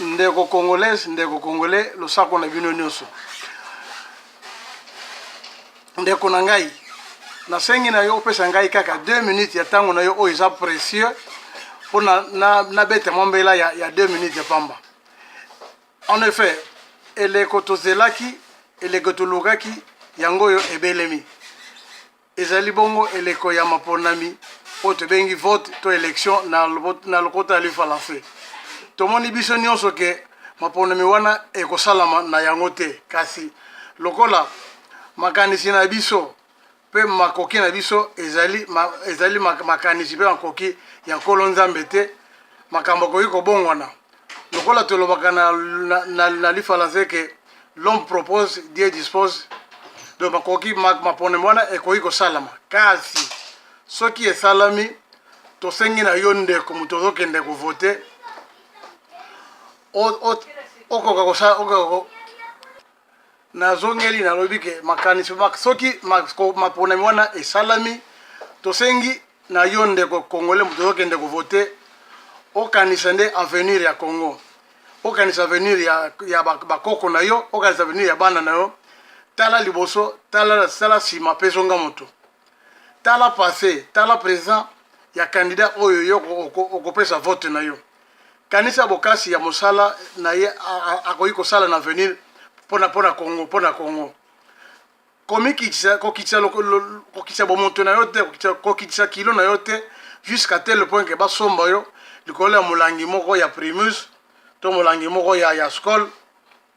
ndeko congolaise ndeko congolais losako na bino nyonso ndeko na ngai nasengi na yo opesa ngai kaka 2 minutes ya ntango na yo oyo eza précieux mpo nabeta na, na mwa mbela ya, ya 2 minutes ya pamba En effet, eleko tozelaki, eleko tolukaki, yango oyo ebelemi. Ezali bongo eleko ya maponami oyo tobengi vote to election na, na lokota ya lifalanse. Tomoni biso nyonso ke maponami wana ekosalama na yango te, kasi lokola makanisi na biso Mpe makoki na biso ezali, ma, ezali makanisi mpe makoki ya Nkolo Nzambe te. Makambo akoki kobongwana. Lokola tolobaka na, na, na, na lifalanse ke l'homme propose, Dieu dispose. Donc makoki ma, maponemo wana ekoki kosalama, kasi soki esalami, tosengi na yo ndeko moto ozokende kovote okoka kosala nazongeli nalobi ke makanisi soki maponami wana esalami tosengi na yo ndeko congolais moto ozokende kovote okanisa nde avenir ya congo okanisa avenir ya, ya bakoko na yo okanisa avenir ya bana na yo tala liboso tala sala nsima mpe zonga moto tala passe tala present ya candidat oyo yo okopesa vote na yo kanisa bokasi ya mosala na ye akoki kosala na avenir pona pona congo pona congo komikitisa kokitisa kokitisa bomoto na yo te kokitisa kilo na yo te jusqu'à tel point ke basomba yo likolo ya molangi moko ya primus to molangi moko ya ya skol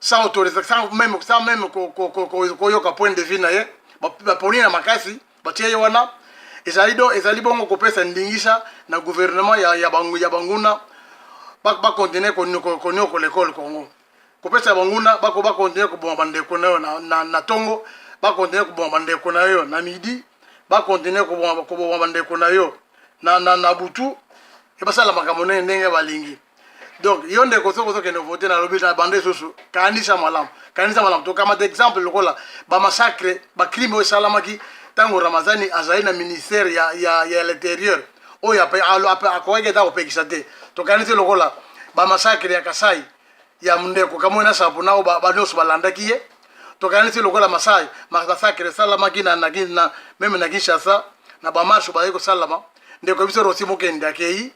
sans autorisation sans même sans même koyoka point de vue na ye baponi na makasi batie ye wana ezali do ezali bongo kopesa ndingisa na gouvernement ya, ya, bangu, ya banguna bakontinue koniokola ekole congo kopesa banguna bako bakontinue koboma bandeko na yo na, na, na tongo bakontinue koboma bandeko na yo na midi bakontinue koboma bandeko na yo na, na, na butu ebasala makambo ndenge balingi donc yo ndeko soki ozokende vote na lobi na bande susu kanisa malamu kanisa malamu tokamata exemple lokola bamassacre bacrime oyo esalamaki ntango ramazani azali na ministère ya, ya, ya l'interieur oyo akokaki ata kopekisa te tokanisi lokola bamassacre ya kasai ya ndeko kamoi na sapo nao banyonso balandaki ye tokanisi lokola masai masacre esalamaki na, na, na meme na kinshasa na bamarshe bazali kosalama ndeko biso rosi mokende akei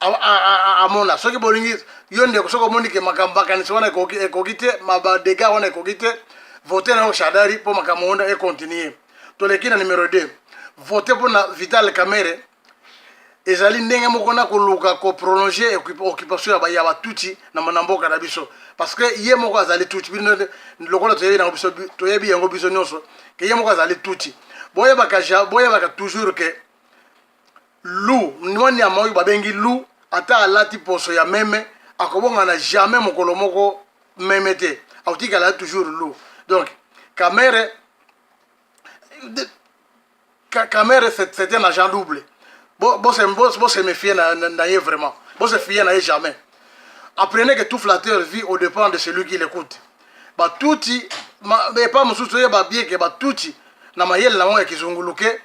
amona soki bolingi yo ndeko soki omoni ke makambo makanisi wana ekoki te badega wana ekoki te vote na yo shadari mpo makambo wana ekontinue toleki na numero 2 vote mpo na vital kamere ezali ndenge moko na koluka koprolonge occupation ya batuti na mboka na biso parce que ye moko azali tuti bino lokola toyebi yango biso toyebi yango biso nyonso ke ye moko azali tuti boyebaka toujours ke Lou, mwa nyama oyo babengi lou, ata alati poso ya meme, akobongana jamais mokolo moko meme te, akotikala toujours lou. Donc, Kamere, Kamere c'est un agent double. Bo, bo, se, bo, bo se méfier na, na, na ye vraiment. Bo se fier na ye jamais. Apprenez que tout flatteur vit au dépend de celui qui l'écoute. Batuti, ma, epa mosusu ye babieke batuti na mayele na yango ya kizunguluke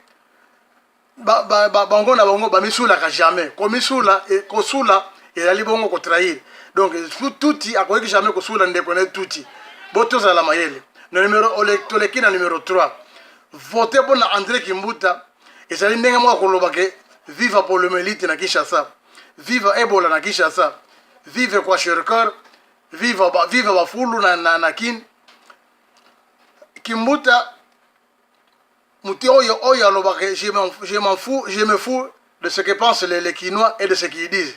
bango na bango bamisulaka jamais komisula e, kosula ezali bongo kotrahir donc tuti akoki jamais kosula ndeko na ye tuti bo tozala mayele na numero toleki na numero 3 vote mpo na andre kimbuta ezali ndenge moko koloba ke viva polomelite na kinshasa viva ebola na kinshasa vive kwa sherker viva bafulu na, na, na kin kimbuta moto oyo oyo alobaka je m'en fous je me fous de ce que pensent les, les kinois et de ce qu'ils disent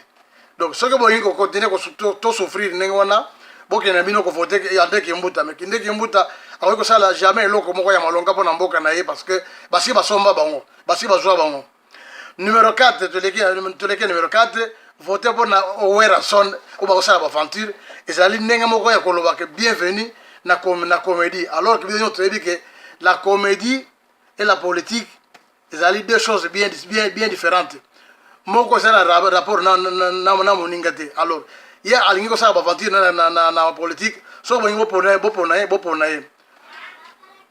donc soki bolingi kocontinue tosouffrir ndenge wana bokenda bino kovote andre kimbuta me kinde kimbuta akoki kosala jamais eloko moko ya malonga mpo na mboka na ye parce que basi basomba bango basi bazwa bango numero 4 toleki toleki numero 4 vote mpo na werrason oyo bakosala baventure ezali ndenge moko ya koloba ke bienvenu na, com na comédie alors ke biso nyonso toyebi ke la comédie et la politique ezali deux choses bien, bien, bien différentes moko ezali na rapport na, na, na, na moninga te alors ye alingi kosala baventure na, na, na, na politique soki bolingi bopona ye bopona ye bopona ye